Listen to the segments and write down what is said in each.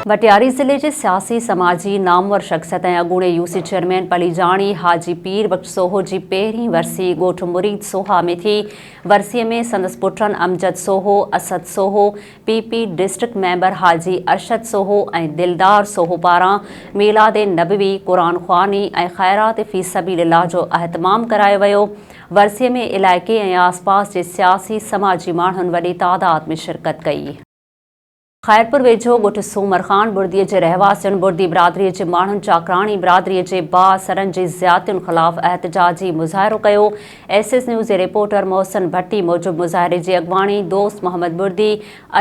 وٽياري ضلعي جي سياسي، سماجي، نامور شخصيت ۽ اڳوڻي يو سي چيئرمين پليجاڻي حاجي پير بخش سوهو جي پهرين ورسي ڳوٺ مريد سوها ۾ ٿي. ورسي ۾ سندس پٽن Amjad Soho, Asad Soho, P P district member Haji Arshad Soho ۽ Dildar Soho پاران ميلاد نبوي، قرآن خواني ۽ خيرات في سبيل الله جو اهتمام ڪرايو ويو. ورسيء ۾ علائقي ۽ آسپاس جي سياسي سماجي ماڻهن وڏي تعداد ۾ شرڪت ڪئي. خيرپور ويجهو ڳوٺ سومر خان بڙدي جي رهواسين بڙدي برادري جي ماڻهن چاڪراڻي برادري جي بااثرن جي زيادتين خلاف احتجاجي مظاهرو ڪيو، ايس ايس نيوز جي رپورٽر محسن ڀٽي موجب مظاهري جي اڳواڻي دوست محمد بڙدي،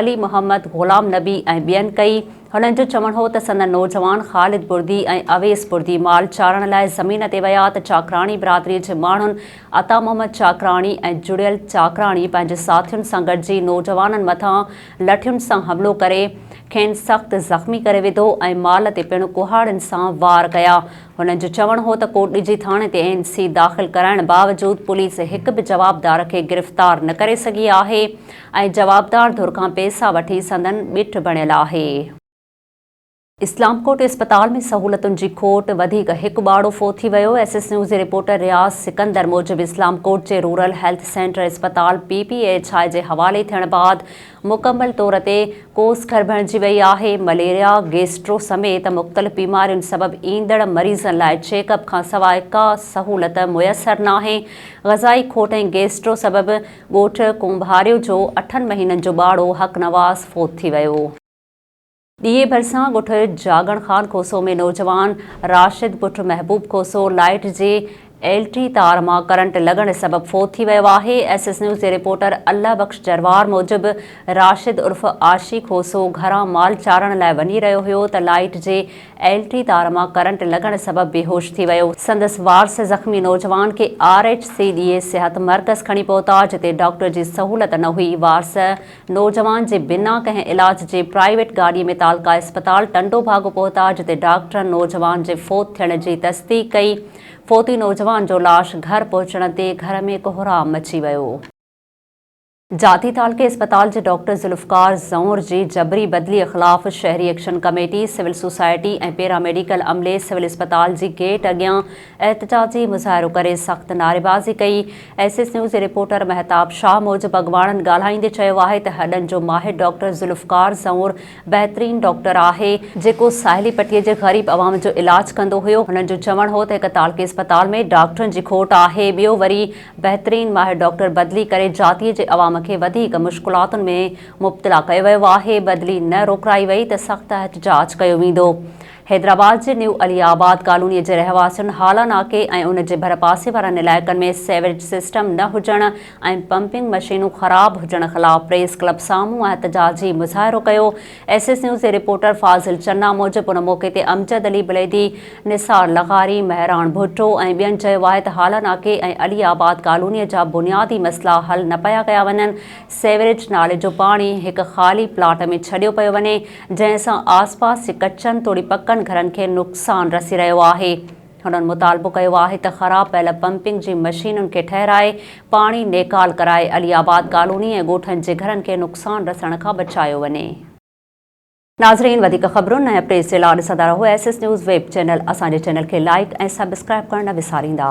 علي محمد، غلام نبي ۽ ٻين ڪئي. هنن جو چوڻ هو ته سندن نوجوان خالد بڙدي ۽ اويس بڙدي مال چارڻ لاء زمين تي ويا ته چاڪراڻي برادري جي ماڻهن عطا محمد چاڪراڻي ۽ جڙيل چاڪراڻي پنهنجي ساٿين سان گڏجي نوجوانن مٿان لٺين سان حملو ڪري کين سخت زخمي ڪري وڌو ۽ مال تي پڻ ڪهاڙين سان وار ڪيا. هنن جو چوڻ هو ته ڪوٽڏيجي ٿاڻي تي اين سي داخل ڪرائڻ باوجود پوليس هڪ به جوابدار کي گرفتار نه ڪري سگهي آهي ۽ جوابدار ڌر کان پئسا وٺي سندن ٻيٺ بڻيل آهي. اسلام ڪوٽ اسپتال ۾ سهولتن جي کوٽ، وڌيڪ هڪ ٻارڙو فوت ٿي ويو، ايس ايس نيوز جي رپورٽر رياض سڪندر موجب اسلام ڪوٽ جي رورل هيلٿ سينٽر اسپتال پي پي ايڇ آء جي حوالي ٿيڻ بعد مڪمل طور تي ڪوس ڪر بڻجي وئي آهي، مليريا، گيسٽرو سميت مختلف بيمارين سبب ايندڙ مريضن لاء چيڪ اپ کان سواء ڪا سهولت ميسر ناهي، غذائي کوٽ ۽ گيسٽرو سبب ڳوٺ ڪنڀاريو جو اٺن مهينن جو ٻارڙو حقنواز فوت ٿي ويو. ڏيئي ڀرسان ڳوٺ جاڳڻ خان کوسو ۾ نوجوان راشد پٽ محبوب کوسو لائيٽ جي ايل ٽي تار مان ڪرنٽ لڳڻ سبب فوت ٿي ويو آهي. ايس ايس نيوز جي رپورٽر الله بخش جروار موجب راشد عرف عاشي کوسو گهران مال چارڻ لاء وڃي رهيو هيو ته لائيٽ جي ايل ٽي تار مان ڪرنٽ لڳڻ سبب بيهوش ٿي ويو. سندس وارث زخمي نوجوان کي آر ايچ سي ڏيئي صحت مرڪز کڻي پهتا جتي ڊاڪٽر جي سهولت نه هئي وارث نوجوان جي بنا ڪنهن علاج جي پرائيويٽ گاڏي ۾ تعلقه اسپتال ٽنڊو ڀاڳو پهتا جتي ڊاڪٽرن نوجوان جي فوت ٿيڻ جي تصديق ڪئي، فوتي نوجوان جو لاش گهر پهچڻ تي گهر ۾ ڪهرام مچي ويو. جاتي تعلقي اسپتال جي ڊاڪٽر ذوالفقار زئور جي جبري بدلي خلاف شهري action committee, civil society ۽ paramedical عملي سول اسپتال جي گيٽ اڳيان احتجاجي مظاهرو ڪري سخت نعريبازي ڪئي، ايس ايس نيوز جي رپورٽر مهتاب شاهه موجب اڳواڻن ڳالهائيندي چيو آهي ته هڏن جو ماهر ڊاڪٽر ذوالفقار زئور بهترين ڊاڪٽر آهي، جيڪو ساحلي پٽي جي غريب عوام جو علاج ڪندو هيو، هنن جو چوڻ هو ته هڪ تعلقي اسپتال ۾ ڊاڪٽرن جي کوٽ آهي، ٻيو وري بهترين ماهر ڊاڪٽر بدلي ڪري جاتيء جي عوام کي وڌيڪ مشڪلاتن ۾ مبتلا ڪيو ويو آهي، بدلي نه روڪرائي وئي ته سخت احتجاج ڪيو ويندو. حيدرآباد جي نيو علي آباد ڪالونيء جي رهواسين هالا ناڪي ۽ ان جي ڀرپاسي وارن علائقن ۾ سيوريج سسٽم نه هجڻ ۽ پمپنگ مشينون خراب هجڻ خلاف پريس ڪلب سامهون احتجاجي مظاهرو ڪيو ايس ايس نيوز جي رپورٽر فاضل چنا موجب ان موقعي تي امجد علي بليدي نثار لغاري مهراڻ ڀٽو ۽ ٻين چيو آهي ته هالا ناڪي ۽ علي آباد ڪالونيء جا بنيادي مسئلا حل نه پيا ڪيا وڃن سيوريج نالي جو پاڻي هڪ خالي پلاٽ ۾ ڇڏيو پيو وڃي جنهن سان آس پاس جي ڪچن توڙي پڪن گهرن کي نقصان رسي رهيو آهي. هنن مطالبو ڪيو آهي ته خراب پيل پمپنگ جي مشينن کي ٺهرائي پاڻي نيڪال ڪرائي علي آباد ڪالوني ۽ ڳوٺن جي گهرن کي نقصان رسڻ کان بچايو وڃي. ناظرين وڌيڪ خبرن ۽ اپڊيٽس جي لا ڏسندا رهو S S news web channel اسان جي چينل کي لائيڪ ۽ سبسڪرائيب ڪرڻ نه وساريندا.